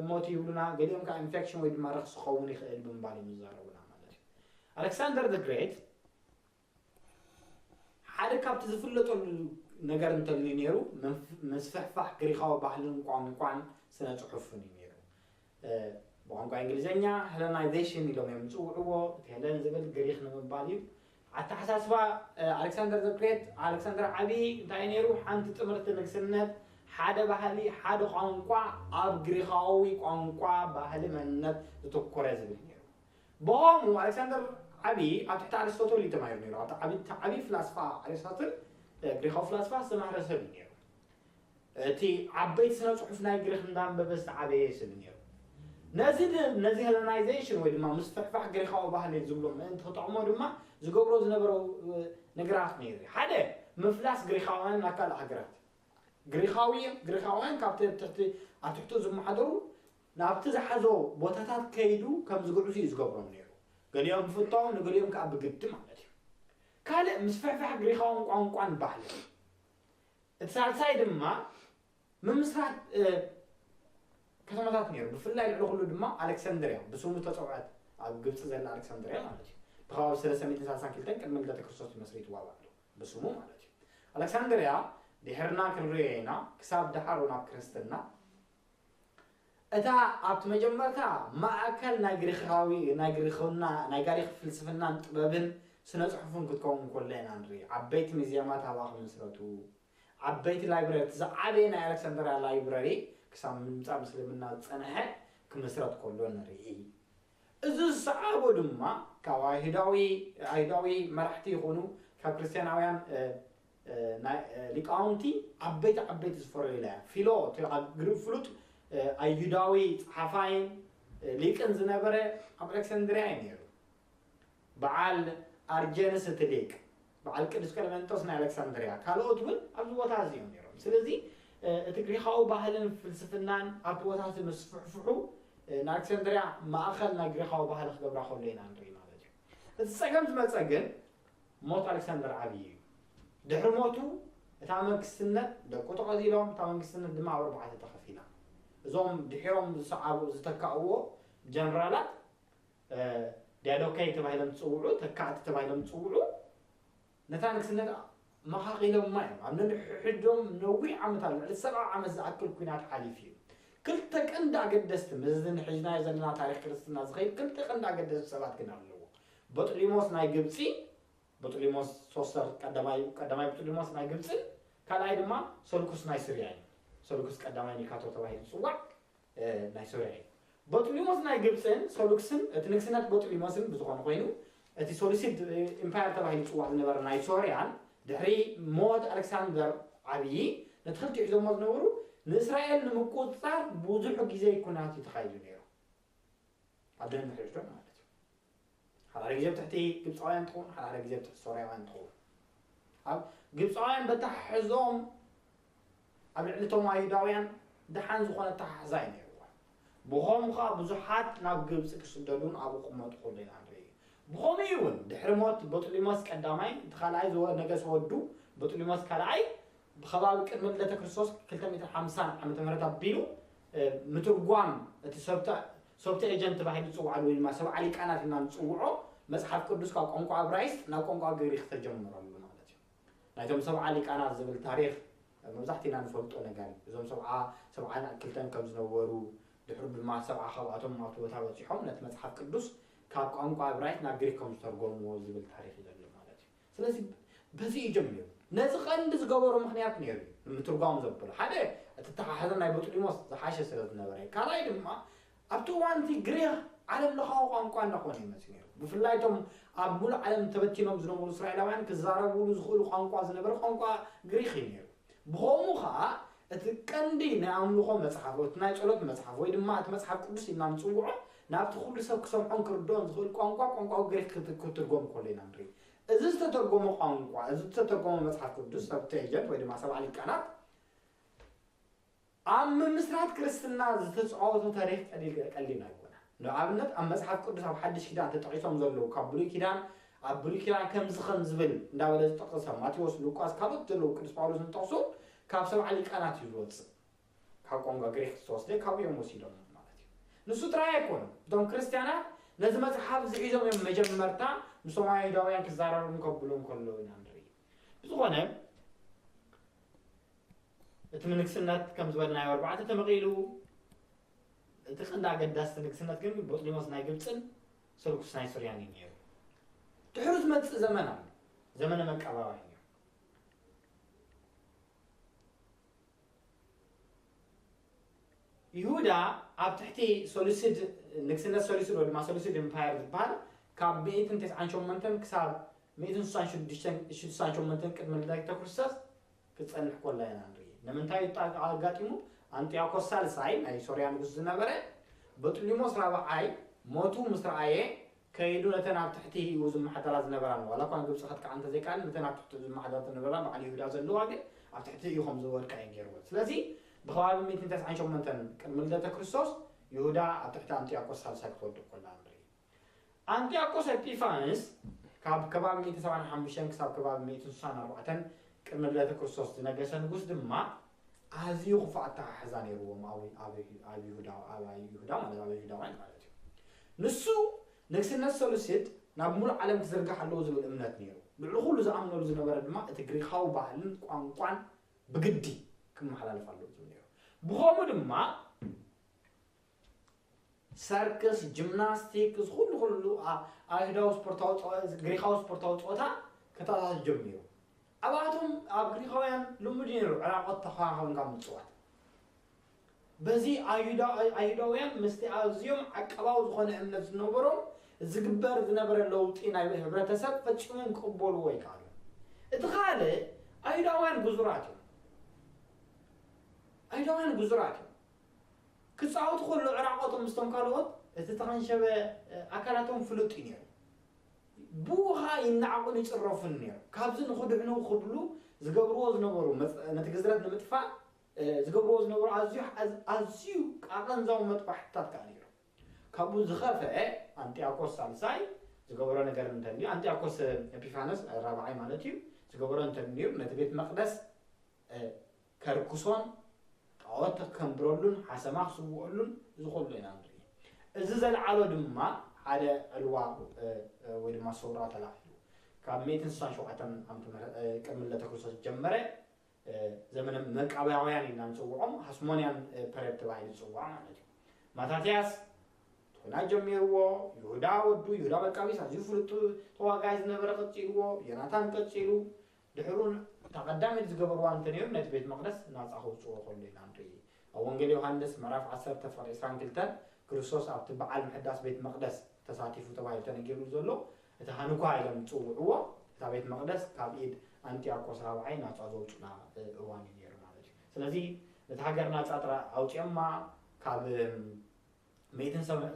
ሞት ይብሉና፣ ገሊኦም ከዓ ኢንፌክሽን ወይ ድማ ረክሲ ክኸውን ይኽእል ብምባል ይዛረቡና ማለት እዩ። ኣሌክሳንደር ዘ ግሬት ሓደ ካብቲ ዝፍለጠሉ ነገር እንተልዩ ነይሩ ምስፍሕፋሕ ግሪኻዊ ባህልን ቋንቋን ስነ-ጽሑፍን እዩ ነይሩ። ብቋንቋ እንግሊዘኛ ሄለናይዜሽን ኢሎም እዮም ዝጽውዕዎ፣ እቲ ሄለን ዝብል ግሪኽ ንምባል እዩ። ኣተሓሳስባ ኣሌክሳንደር ዘ ግሬት ኣሌክሳንደር ዓብዪ እንታይ እዩ ነይሩ? ሓንቲ ጥምርቲ ንግስነት፣ ሓደ ባህሊ፣ ሓደ ቋንቋ፣ ኣብ ግሪኻዊ ቋንቋ ባህሊ መንነት ዘተኮረ ዝብል ነይሩ። ብኦሙ ኣሌክሳንደር ዓቢ ኣብ ትሕቲ ኣርስቶትል እዩ ተማሂሩ ነይሩ። ኣብቲ ዓቢ እቲ ዓቢ ፍላስፋ ኣርስቶትል ግሪኻዊ ፍላስፋ ዝተማህረ ሰብ እዩ ነይሩ። እቲ ዓበይቲ ስነ ጽሑፍ ናይ ግሪኽ እንዳንበበ ዝተዓበየ ሰብ እዩ ነይሩ። ነዚ ድ ነዚ ሄለናይዜሽን ወይ ድማ ምስፍሕፋሕ ግሪኻዊ ባህሊ ዝብሎ ምእንቲ ክጠቕሞ ድማ ዝገብሮ ዝነበረ ነገራት ነይሩ እዩ። ሓደ ምፍላስ ግሪኻውያን ናብ ካልእ ሃገራት ግሪኻዊ ግሪኻውያን ካብቲ ኣብ ትሕቲ ኣብ ትሕቱ ዝመሓደሩ ናብቲ ዝሓዞ ቦታታት ከይዱ ከም ዝግዕዙ እዩ ዝገብሮም ነይሩ፣ ገሊኦም ብፍታው ንገሊኦም ከኣ ብግዲ ማለት እዩ። ካልእ ምስፍሕፋሕ ግሪኻውን ቋንቋን ባህልን እዩ። እቲ ሳልሳይ ድማ ምምስራት ከተማታት ነይሩ፣ ብፍላይ ልዕሊ ዅሉ ድማ ኣለክሰንድርያ፣ ብስሙ ዝተጸውዐት ኣብ ግብጺ ዘላ ኣለክሰንድርያ ማለት እዩ። ብከባቢ ሰለስተ ሚእትን ሳልሳን ክልተን ቅድሚ ልደተ ክርስቶስ እዩ መስሪትዋ ባዕሉ፣ ብስሙ ማለት እዩ። ኣለክሰንድርያ ድሒርና ክንርእዮ ኢና፣ ክሳብ ደሓሩ ናብ ክርስትና እታ ኣብቲ መጀመርታ ማእከል ናይ ግሪኻዊ ናይ ግሪኽና ናይ ጋሪኽ ፍልስፍናን ጥበብን ስነ-ጽሑፍን ክትከውን ኮሎ ኢና ንርኢ። ዓበይቲ ሚዝየማት ኣብኣ ክምስረቱ፣ ዓበይቲ ላይብረሪ እቲ ዝዓበየ ናይ ኣለክሳንድርያ ላይብረሪ ክሳብ ምምጻእ ምስልምና ዝጸንሐ ክምስረት ኮሎ ንርኢ። እዚ ዝሰዓቦ ድማ ካብ ኣይሁዳዊ ኣይሁዳዊ መራሕቲ ይኹኑ ካብ ክርስትያናውያን ሊቃውንቲ ዓበይቲ ዓበይቲ ዝፈረዩላ እያ። ፊሎ እቲ ኣብ ግሪክ ፍሉጥ ኣይሁዳዊ ጸሓፋይን ሊቅን ዝነበረ ኣብ ኣሌክሳንድርያ እዩ ነይሩ። በዓል ኣርጀንስ እቲ ሊቅ፣ በዓል ቅዱስ ቀለመንጦስ ናይ ኣሌክሳንድርያ፣ ካልኦት እውን ኣብዚ ቦታ እዚ እዮም ነይሮም። ስለዚ እቲ ግሪኻዊ ባህልን ፍልስፍናን ኣብቲ ቦታ እቲ ምስፍሕፍሑ ንኣሌክሳንድርያ ማእኸል ናይ ግሪኻዊ ባህሊ ክገብራ ከሎ ኢና ንርኢ ማለት እዩ። እቲ ጸገም ዝመጸ ግን ሞት ኣሌክሳንደር ዓብዪ እዩ። ድሕሪ ሞቱ እታ መንግስትነት ደቁ ተቐዚሎም፣ እታ መንግስትነት ድማ ኣብ ኣርባዕተ ተኸፊላ። እዞም ድሒሮም ዝሰዓቡ ዝተካእዎ ጀነራላት ዲያዶካይ ተባሂሎም ዝፅውዑ፣ ተካእቲ ተባሂሎም ዝፅውዑ፣ ነታ ንግስነት መኻኺሎማ እዮም። ኣብ ነንሕድሕዶም ነዊሕ ዓመታት ልዕሊ ሰብዓ ዓመት ዝኣክል ኩናት ሓሊፉ እዩ። ክልተ ቀንዲ ኣገደስቲ ምስዚ ንሕጅናዮ ዘለና ታሪኽ ክርስትና ዝኸይድ ክልተ ቀንዲ ኣገደስቲ ሰባት ግን ኣለዎ። በጥሊሞስ ናይ ግብጺ፣ በጥሊሞስ ሶስተር ቀዳማይ፣ ቀዳማይ በጥሊሞስ ናይ ግብጽን ካልኣይ ድማ ሰልኩስ ናይ ስርያ እዩ። ሰልኩስ ቀዳማይ ኒካቶ ተባሂሉ ዝጽዋዕ ናይ ሶርያ እዩ። በጥሊሞስ ናይ ግብጽን ሰሉክስን እቲ ንግስነት በጥሊሞስን ብዝኾነ ኮይኑ እቲ ሰሉሲድ ኢምፓየር ተባሂሉ ዝጽዋዕ ዝነበረ ናይ ሶርያን ድሕሪ ሞት ኣሌክሳንደር ዓብዪ ነቲ ክልቲኡ ሒዞሞ ዝነበሩ ንእስራኤል ንምቁጽጻር ብዙሕ ግዜ ኩናት እዩ ተኻይዱ ነይሩ ኣብ ድሕሪ ድሕሪቶም ማለት እዩ። ሓዳሓደ ግዜ ብ ትሕቲ ግብጻውያን ትኸውን ሓዳሓደ ግዜ ብ ትሕቲ ሶርያውያን ትኸውን ኣብ ግብጻውያን በተሓሕዝኦም ኣብ ልዕሊ እቶም ኣይሁዳውያን ደሓን ዝኾነ ኣተሓሕዛ እዩ ነይርዋ ብኸምኡ ኸኣ ብዙሓት ናብ ግብጺ ክስደዱን ኣብኡ ክመጡ ከሎ ኢና ንርኢ ብኸምኡ እዩ እውን ድሕሪ ሞት በጥሊሞስ ቀዳማይ እቲ ካልኣይ ነገሰ ወዱ በጥሊሞስ ካልኣይ ብከባቢ ቅድመ ልደተ ክርስቶስ ክልተ ሚእትን ሓምሳን ዓመተ ምህረት ኣቢሉ ምትርጓም እቲ ሰብቱኤጀንት ተባሂሉ ዝጽዋዓሉ ወይ ድማ ሰብዓ ሊቃናት ኢልና ንጽውዖ መጽሓፍ ቅዱስ ካብ ቋንቋ እብራይስጥ ናብ ቋንቋ ግሪኽ ተጀምረሉ ማለት እዩ። ናይቶም ሰብዓ ሊቃናት ዝብል ታሪኽ መብዛሕቲና ንፈልጦ ነገር እዩ። እዞም ሰብዓ ሰብዓን ክልተን ከም ዝነበሩ ድሕሩ ድማ ሰብዓ ካብኣቶም ኣብቲ ቦታ በጺሖም ነቲ መጽሓፍ ቅዱስ ካብ ቋንቋ እብራይስጥ ናብ ግሪኽ ከም ዝተርጎምዎ ዝብል ታሪኽ እዩ ዘሎ ማለት እዩ። ስለዚ በዚ እዩ ጀሚሩ። ነዚ ቀንዲ ዝገበሮ ምኽንያት ነይሩ እዩ፣ ንምትርጓም ዘብሎ። ሓደ እቲ ኣተሓሕዛ ናይ በጥሊሞስ ዝሓሸ ስለ ዝነበረ እዩ። ካልኣይ ድማ ኣብቲ እዋን እቲ ግሪኽ ዓለም ለኻዊ ቋንቋ እንዳኾነ እዩ መጺኡ ነይሩ። ብፍላይ እቶም ኣብ ምሉእ ዓለም ተበቲኖም ዝነበሩ እስራኤላውያን ክዛረብሉ ዝኽእሉ ቋንቋ ዝነበረ ቋንቋ ግሪኽ እዩ ነይሩ። ብኸምኡ ኸኣ እቲ ቀንዲ ናይ ኣምልኾ መጽሓፍ፣ እቲ ናይ ጸሎት መጽሓፍ ወይ ድማ እቲ መጽሓፍ ቅዱስ ኢልና ንጽውዖ ናብቲ ኩሉ ሰብ ክሰምዖን ክርድኦን ዝኽእል ቋንቋ፣ ቋንቋ ግሪኽ ክትርጎም ከሎ ኢና ንርኢ። እዚ ዝተተርጎመ ቋንቋ፣ እዚ ዝተተርጎመ መጽሓፍ ቅዱስ፣ ሰብትኤጀንት ወይ ድማ ሰብዓ ሊቃናት፣ ኣብ ምምስራት ክርስትና ዝተጻወቶ ተሪኽ ቀሊል ቀሊል ኣይኮነን። ንኣብነት ኣብ መጽሓፍ ቅዱስ ኣብ ሓድሽ ኪዳን ተጠቂሶም ዘለዉ ካብ ብሉይ ኪዳን ኣብ ብሉይ ኪዳን ከምዚ ከም ዝብል እንዳበለ ዝጠቕሰ ማቴዎስ፣ ሉቃስ ካልኦት ዘለዉ ቅዱስ ጳውሎስ ዝጠቕሱ ካብ ሰብዓ ሊቃናት እዩ ዝወጽእ። ካብ ቋንቋ ግሪኽ ዝተወስደ ካብኡ እዮም ወሲዶሞ ማለት እዩ። ንሱ ጥራይ ኣይኮኑን፣ እቶም ክርስትያናት ነዚ መጽሓፍ እዚ ሒዞም እዮም መጀመርታ ምስቶም ኣይሁዳውያን ክዛረቡን ከብሉን ከለዉ ኢና ንርኢ። ብዝኾነ እቲ ምንግስነት ከም ዝበልናዮ ኣርባዕተ ተመቒሉ እቲ ቀንዲ ኣገዳሲ ንግስነት ግን ቦጥሊሞስ ናይ ግብፅን ሰልኩስ ናይ ሱርያን እዩ ነይሩ። ድሕሪ ዝመፅእ ዘመን ኣሎ፣ ዘመነ መቃባውያን እዩ። ይሁዳ ኣብ ትሕቲ ሰሉሲድ ንግስነት ሰሉሲድ ወይ ድማ ሰሉሲድ ኢምፓየር ዝበሃል ካብ ሚእትን ተስዓን ሸሞንተን ክሳብ ሚእትን ስሳን ሽዱሽተን ስሳን ሸሞንተን ቅድሚ ልደተ ክርስቶስ ክጸንሕ ኮላ ኢና ንርኢ። ንምንታይ እዩ ጣ- ኣጋጢሙ? ኣንጢያኮስ ሳልሳይ ናይ ሶርያ ንጉስ ዝነበረ በጥሊሞስ ራብዓይ ሞቱ ምስ ረኣየ ከይዱ ነተን ኣብ ትሕቲኡ ዝመሓደራ ዝነበራን ዋላኳ ግብጺ ከጥቅዓ እንተዘይከኣለን ነተን ኣብ ትሕቲኡ ዝመሓደረተን ዝነበራ በዓል ይሁዳ ዘለዋ ግን ኣብ ትሕቲኡ ከም ዝወድቃ እዩ ገይርወን ስለዚ ብከባቢ ሚእትን ተስዓን ሸሞንተን ቅድሚ ልደተ ክርስቶስ ይሁዳ ኣብ ትሕቲ ኣንጥያኮስ ሳልሳይ ክትወድቅ ኮላ ንርኢ ኣንጥያኮስ ኤጲፋንስ ካብ ከባቢ ሚእትን ሰብዓን ሓሙሽተን ክሳብ ከባቢ ሚእትን ስሳን ኣርባዕተን ቅድሚ ልደተ ክርስቶስ ዝነገሰ ንጉስ ድማ ኣዝዩ ክፉእ ኣተሓሕዛ ነይርዎም ኣብ ይሁዳ ማለት ኣብ ይሁዳውያን ማለት እዩ። ንሱ ንግስነት ሰሉሲድ ናብ ምሉእ ዓለም ክዝርጋሕ ኣለዎ ዝብል እምነት ነይሩ። ልዕሊ ኩሉ ዝኣምነሉ ዝነበረ ድማ እቲ ግሪኻዊ ባህልን ቋንቋን ብግዲ ክመሓላለፍ ኣለዎ ዝብል ነይሩ። ብኸምኡ ድማ ሰርክስ፣ ጂምናስቲክ፣ ዝኹሉ ኩሉ ኣይሁዳዊ ስፖርታዊ ጸወታ ግሪኻዊ ስፖርታዊ ጸወታ ከተኣታቱ ጀሚሩ። ኣብኣቶም ኣብ ግሪኻውያን ልሙድ ነይሩ ዕራቆት ተኸኻኸብንካ ምጽዋት። በዚ ኣይሁዳውያን ምስቲ ኣዝዮም ዓቀባዊ ዝኾነ እምነት ዝነበሮም ዝግበር ዝነበረ ለውጢ ናይ ሕብረተሰብ ፈጺሞም ክቕበልዎ ኣይከኣሉን። እቲ ካልእ ኣይሁዳውያን ግዙራት እዮም። ኣይሁዳውያን ግዙራት እዮም። ክጻወቱ ከለዉ ዕራቆቶም ምስቶም ካልኦት እቲ እተኸንሸበ ኣካላቶም ፍሉጥ እዩ ነይሩ። ብእኡ ኸኣ ይነዓቑን ይጽረፉን ነይሮም። ካብዚ ንኽድሕኑ ክብሉ ዝገብርዎ ዝነበሩ፣ ነቲ ግዝረት ንምጥፋእ ዝገብርዎ ዝነበሩ ኣዝዩ ኣዝዩ ኣቐንዛዊ መጥባሕትታት ከኣ ነይሮም። ካብኡ ዝኸፍኤ ኣንጢኣኮስ ሳልሳይ ዝገበሮ ነገር እንተ ኣልዩ፣ ኣንጢኣኮስ ኤጲፋነስ ራብዓይ ማለት እዩ፣ ዝገበሮ እንተ ኣልዩ ነቲ ቤት መቕደስ ከርክሶን ጣኦት ከንብረሉን ሓሰማ ክስውኦሉን እዚ ኩሉ ኢና ንርኢ። እዚ ዘልዓሎ ድማ ሓደ ዕልዋ ወይ ድማ ሰውራ ተላዒሉ ካብ ሚእትን ስሳን ሸውዓተን ዓመተ ምህረት ቅድሚ ልደተ ክርስቶስ ዝጀመረ ዘመነ መቃብያውያን ኢልና ንጽውዖም ሃስሞንያን ፐሬድ ተባሂሉ ዝጽዋዕ ማለት እዩ ማታትያስ ቶና ጀሚርዎ ይሁዳ ወዱ ይሁዳ መቃቢስ ኣዝዩ ፍሉጥ ተዋጋይ ዝነበረ ቀጺልዎ ዮናታን ቀጺሉ ድሕሩን እታ ቀዳመይቲ ዝገበርዋ እንተ ነይሩ ነቲ ቤት መቕደስ ናጻ ከውጽእዎ ከሎ ኢና ንርኢ። ኣብ ወንጌል ዮሃንስ ምዕራፍ ዓሰርተ ፍቕዲ ዕስራን ክልተን ክርስቶስ ኣብቲ በዓል ምሕዳስ ቤት መቕደስ ተሳቲፉ ተባሂሉ ተነጊርሉ ዘሎ እታ ሃንኳ ኢሎም ዝጽውዕዋ እታ ቤት መቕደስ ካብ ኢድ ኣንጥያቆስ ራብዓይ ናጻ ዘውጹላ እዋን እዩ ነይሩ ማለት እዩ። ስለዚ ነታ ሃገር ናጻ ጥራይ ኣውጺኦማ ካብ ሚእትን ሰብዕ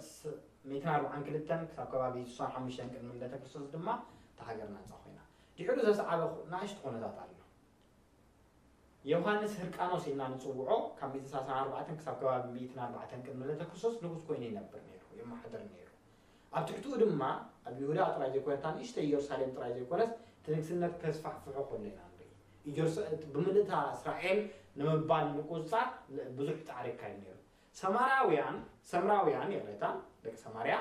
ሚእትን ኣርብዓን ክልተን ክሳብ ከባቢ ስሳን ሓሙሽተን ቅድሚ ልደተ ክርስቶስ ድማ እታ ሃገር ናጻ ኮይና። ድሒሩ ዘስዓበ ናእሽቱ ኩነታት ኣሎ። ዮሃንስ ህርቃኖስ ኢልና ንጽውዖ ካብ ሚእትን ሰላሳን ኣርባዕተን ክሳብ ከባቢ ሚእትን ኣርባዕተን ቅድሚ ልደተ ክርስቶስ ንጉስ ኮይኑ ይነብር ነይሩ፣ የመሓድር ነይሩ። ኣብ ትሕትኡ ድማ ኣብ ይሁዳ ጥራይ ዘይኮነ እታ ንእሽተይ ኢየሩሳሌም ጥራይ ዘይኮነስ እቲ ንግስነት ከስፋሕፍሖ ከሎ ኢና ንርኢ። ኢየሩሳ ብምልእታ እስራኤል ንምባል ንምቁጽጻር ብዙሕ ጻዕሪ ይካየድ ነይሩ። ሰማራውያን፣ ሰምራውያን፣ ይቕሬታ፣ ደቂ ሰማርያ፣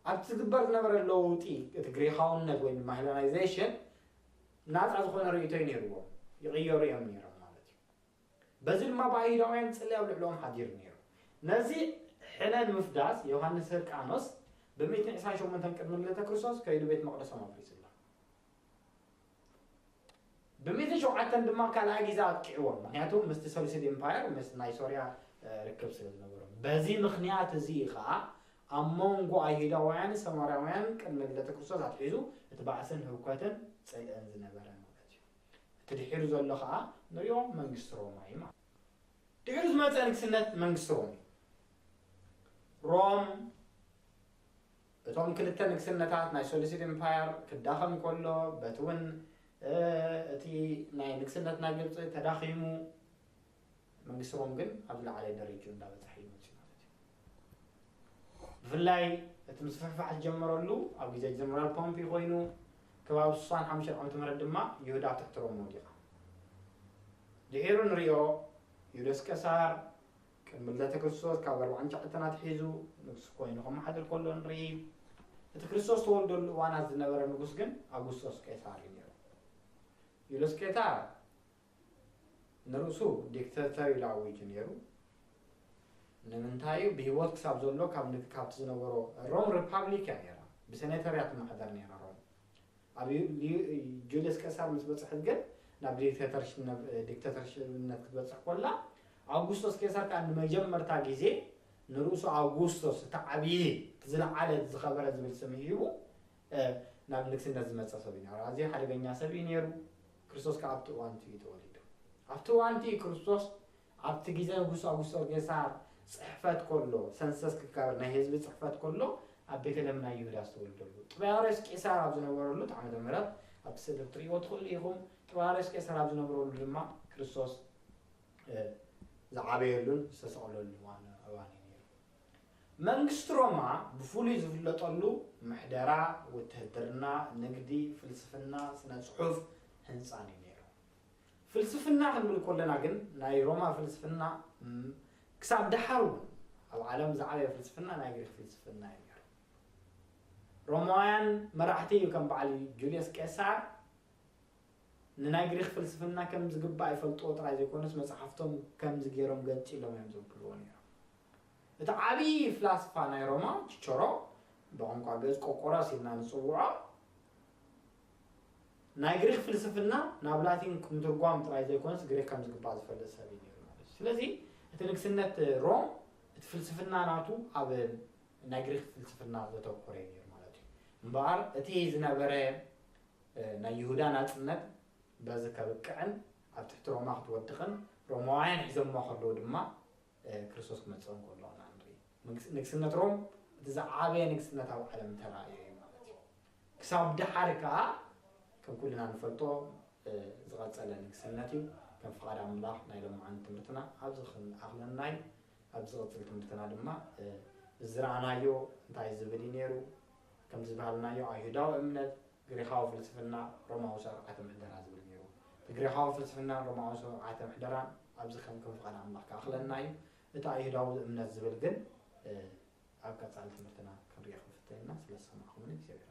ኣብቲ ዝግበር ዝነበረ ለውጢ፣ እቲ ግሪኻውነት ወይ ድማ ሄለናይዜሽን፣ ናጻ ዝኾነ ርእይቶ'ዩ ነይርዎም፣ ይቕየሩ እዮም ነይሮም ማለት እዩ። በዚ ድማ ብኣይሁዳውያን ጽልኢ ኣብ ልዕለኦም ሓዲሩ ነይሩ። ነዚ ሕነ ንምፍዳስ ዮሃንስ ህርቃኖስ ብ1ዕስራን ሸሞንተን ቅድሚ ልደተ ክርስቶስ ከይዱ ቤት መቕደሶም ኣፍሪሱ ኣሎ። ብሚእቲ ሸውዓተን ድማ ካልኣይ ግዜ ኣጥቂዕዎም፣ ምኽንያቱ ምስቲ ሰሉሲድ ኢምፓየር ምስ ናይ ሶርያ ርክብ ስለ ዝነበሮም። በዚ ምኽንያት እዚ እዩ ኸኣ ኣብ መንጎ ኣይሁዳውያንን ሰማርያውያንን ቅድሚ ልደተ ክርስቶስ ኣትሒዙ እቲ ባእስን ህውከትን ጽልእን ዝነበረ ማለት እዩ። እቲ ድሒሩ ዘሎ ኸኣ ንሪኦ መንግስቲ ሮማ እዩ ማለት እዩ። ድሒሩ ዝመጸ ንግስነት መንግስቲ ሮም እዩ። ሮም። እቶም ክልተ ንግስነታት ናይ ሰሉሲድ ኢምፓየር ክዳኸም ከሎ በቲ እውን እቲ ናይ ንግስነት ናይ ግብፂ ተዳኺሙ መንግስቲ ሮም ግን ኣብ ዝለዓለ ደረጅኡ እንዳበፀሐ እዩ መፅኡ ማለት እዩ። ብፍላይ እቲ ምስፍሕፋሕ ዝጀመረሉ ኣብ ግዜ ጀነራል ፖምፒ ኮይኑ ከባቢ ስሳን ሓሙሽተን ዓመተ ምህረት ድማ ይሁዳ ኣብ ትሕቲ ሮም ወዲቓ። ድሒሩ ንሪኦ ዩልዮስ ቀሳር ቅድሚ ልደተ ክርስቶስ ካብ ኣርብዓን ትሽዓተን ኣትሒዙ ንጉስ ኮይኑ ከመሓድር ከሎ ንርኢ። እቲ ክርስቶስ ዝተወልደሉ እዋናት ዝነበረ ንጉስ ግን ኣጉስጦስ ቄሳር እዩ ነይሩ። ዩልዮስ ቄሳር ንርእሱ ዲክተተር ኢሉ ኣዊጁ ነይሩ። ንምንታይ ብሂወት ክሳብ ዘሎ ካብ ካብቲ ዝነበሮ ሮም ሪፓብሊክ እያ ነይራ ብሰኔተር እያ ትመሓደር ነይራ ሮም ኣብ ጁልየስ ቀሳር ምስ በጽሐት ግን ናብ ዲክተተርሽነት ክትበጽሕ ኮላ፣ ኣውጉስቶስ ቄሳር ከኣ ንመጀመርታ ግዜ ንርእሱ ኣውጉስቶስ እቲ ዓብዪ እቲ ዝለዓለ እቲ ዝኸበረ ዝብል ስም ሂቡ ናብ ንግስነት ዝመጸ ሰብ እዩ ነይሩ። ኣዝዩ ሓደገኛ ሰብ እዩ ነይሩ። ክርስቶስ ከኣ ኣብቲ እዋን እቲ እዩ ተወሊዱ። ኣብቲ እዋን እቲ እዩ ክርስቶስ ኣብቲ ግዜ ንጉሳዊሶ ጌሳር ጽሕፈት ከሎ፣ ሰንሰስ ክካበር ናይ ህዝቢ ጽሕፈት ከሎ ኣብ ቤተልሔም ናይ ይሁዳ ዝተወልደሉ። ጥባርዮስ ቄሳር ኣብ ዝነበረሉ ዓመተ ምህረት ኣብቲ ስእሊ ክትርእይዎ ትኽእሉ ኢኹም። ጥባርዮስ ቄሳር ኣብ ዝነብረሉ ድማ ክርስቶስ ዝዓበየሉን ዝተሰቕለሉን እዋን እዩ ነይሩ። መንግስቲ ሮማ ብፍሉይ ዝፍለጠሉ ምሕደራ፣ ውትህድርና፣ ንግዲ፣ ፍልስፍና፣ ስነ ጽሑፍ፣ ህንጻን እዩ ነይሩ። ፍልስፍና ክንብል ኮለና ግን ናይ ሮማ ፍልስፍና እም ክሳብ ደሓር እውን ኣብ ዓለም ዝዓበየ ፍልስፍና ናይ ግሪኽ ፍልስፍና እዩ ነይሩ። ሮማውያን መራሕቲ እዩ ከም በዓል ጁልየስ ቄሳር ንናይ ግሪኽ ፍልስፍና ከም ዝግባእ ይፈልጥዎ ጥራይ ዘይኮነስ መጽሓፍቶም ከምዚ ገይሮም ገንጺሎም እዮም ዘብልዎ ነይሮም። እቲ ዓብዪ ፍላስፋ ናይ ሮማ ቺቸሮ ብቋንቋ ግእዝ ቆቆሮስ ኢልና ንጽውዖ ናይ ግሪኽ ፍልስፍና ናብ ላቲን ምትርጓም ጥራይ ዘይኮነስ ግሪኽ ከም ዝግባእ ዝፈልጥ ሰብ እዩ ነይሩ ማለት እዩ። ስለዚ እቲ ንግስነት ሮም እቲ ፍልስፍና ናቱ ኣብ ናይ ግሪኽ ፍልስፍና ዘተኮረ እዩ ነይሩ ማለት እዩ። እምበኣር እቲ ዝነበረ ናይ ይሁዳ ናጽነት በዚ ከብቅዕን ኣብ ትሕቲ ሮማ ክትወድቕን ሮማውያን ሒዞምዋ ከለዉ ድማ ክርስቶስ ክመጽእ እንከሎ ኢና ንርኢ። ንግስነት ሮም እቲ ዝዓበየ ንግስነት ኣብ ዓለም ተራእዮ እዩ ማለት እዩ። ክሳብ ደሓር ከኣ ከም ኩልና ንፈልጦ ዝቐጸለ ንግስነት እዩ። ከም ፍቓድ ኣምላኽ ናይ ሎምዓንቲ ትምህርትና ኣብዚ ክንኣኽለና እዩ። ኣብ ዝቕጽል ትምህርትና ድማ እዚ ዝረኣናዮ እንታይ ዝብል እዩ ነይሩ፣ ከምዚ ዝበሃልናዮ ኣይሁዳዊ እምነት፣ ግሪኻዊ ፍልስፍና፣ ሮማዊ ስርዓተ ምሕደራ ዝብል ነይሩ። እቲ ግሪኻዊ ፍልስፍናን ሮማዊ ስርዓተ ምሕደራን ኣብዚ ከም ፍቓድ ኣምላኽ ክኣኽለና እዩ። እቲ ኣይሁዳዊ እምነት ዝብል ግን ኣብ ቀጻሊ ትምህርትና ክንሪኦ ክንፍትን ኢና። ስለ ዝሰማዕኩምኒ እግዚኣብሔር